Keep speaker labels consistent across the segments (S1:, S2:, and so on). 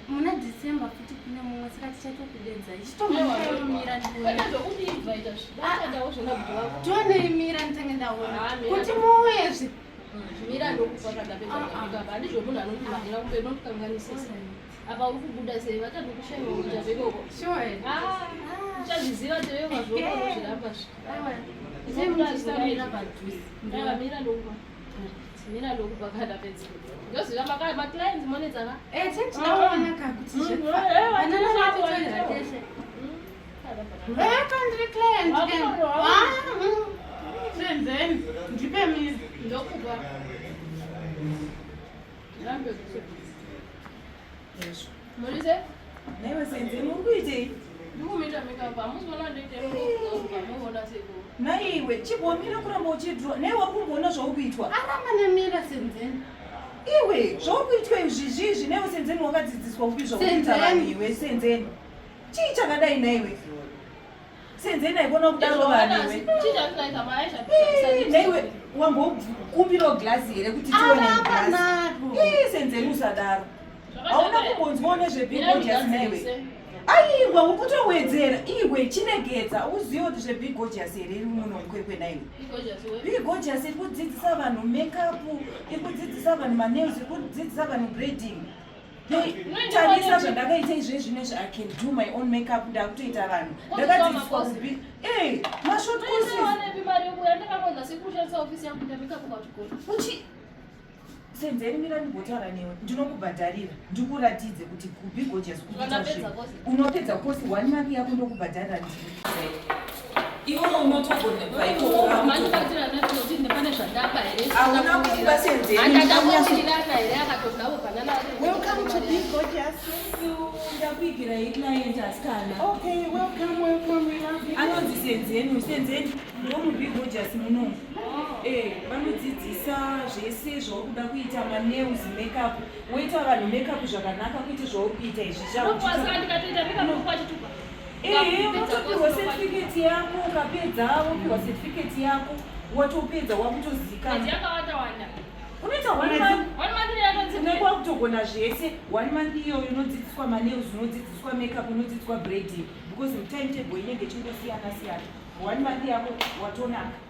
S1: muna december futi kune mumwe saka tichatokudedza ichitomuira ndione imira nditange ndaona kuti muuyezve mira
S2: ndokufa zvakapedzaaaba handizvo munhu anondimanira kupe nondikanganisisa apa uri kubuda sei vatatu kushaiwa kuita vekoko uchazviziva tevekwazvokozviramba zvimira ndokufa mira ndokufa kana pedza ndoziva makaya maclients monetsaka eh, eh,
S1: eh,
S2: naiwe chibomira
S3: kuramba uchidhura nei wari kumboona zvauri kuitwa aramba nemira
S1: senzeni iwe
S3: zvauri kuitwa izvizvi izvi neiwe senzeni wakadzidziswa kupi zvakuita vanhu iwe senzeni Chii chakadai naiwe? Senzei naikona kudaro vanhu iwe. Chii chakadai mai
S2: zvapisa. Naiwe
S3: wambokumbirawo glass here kuti tione glass. Ii senzei usadaro. Hauna kumbonzwawo nezvebhibho just naiwe. aiwa ukutowedzera iwe chinegedza uzive kuti zvebigojasi here iri muno mukwekwe naiwe bigojasi iri kudzidzisa vanhu makeup iri kudzidzisa vanhu manails iri kudzidzisa vanhu brading tarisa zvandakaita izve zvine zvi i can do my own makeup ndakutoita vanhu ndakadzidziswa kubi e mashot coursesuchi senzeri mira ndigotaura newe ndinokubhadharira ndikuratidze kuti kubi gojas kuita unopedza kosi one mari yako ndokubhadharira
S1: ndii
S3: iwo unotogona
S1: anonzi
S3: senzeni senzeni ndomubigojus muno vanodzidzisa zvese zvauri kuda kuita manews makeup Woita vanhu make up zvakanaka kwete zvauri kuita izvi zvaunokwazika ndikatoita make up kwachituka ehe wotopihwa certificate yako ukapedza wopihwa certificate yako watopedza wakutozikanaunoita kwakutogona zvese one month iyoyo unodzidziswa manails unodzidziswa makeup unodzidziswa brading because timetable inenge chingosiyana siyana one month yako watonaka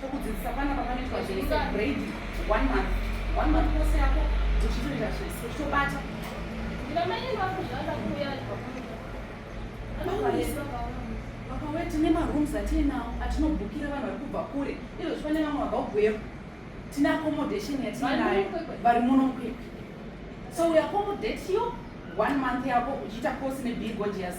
S1: tokudzidzisa pana pamanoitwa zvese grade one month one month kose yako uchitoita zvese uchitobata vakawe tine marooms atiinawo atinobhukira vanhu vari kubva kure izvo zvipane vamwe vabva kugweru tine accommodation yatiinayo vari muno mukwekwe so we accommodate you one month yako uchiita course nebigodius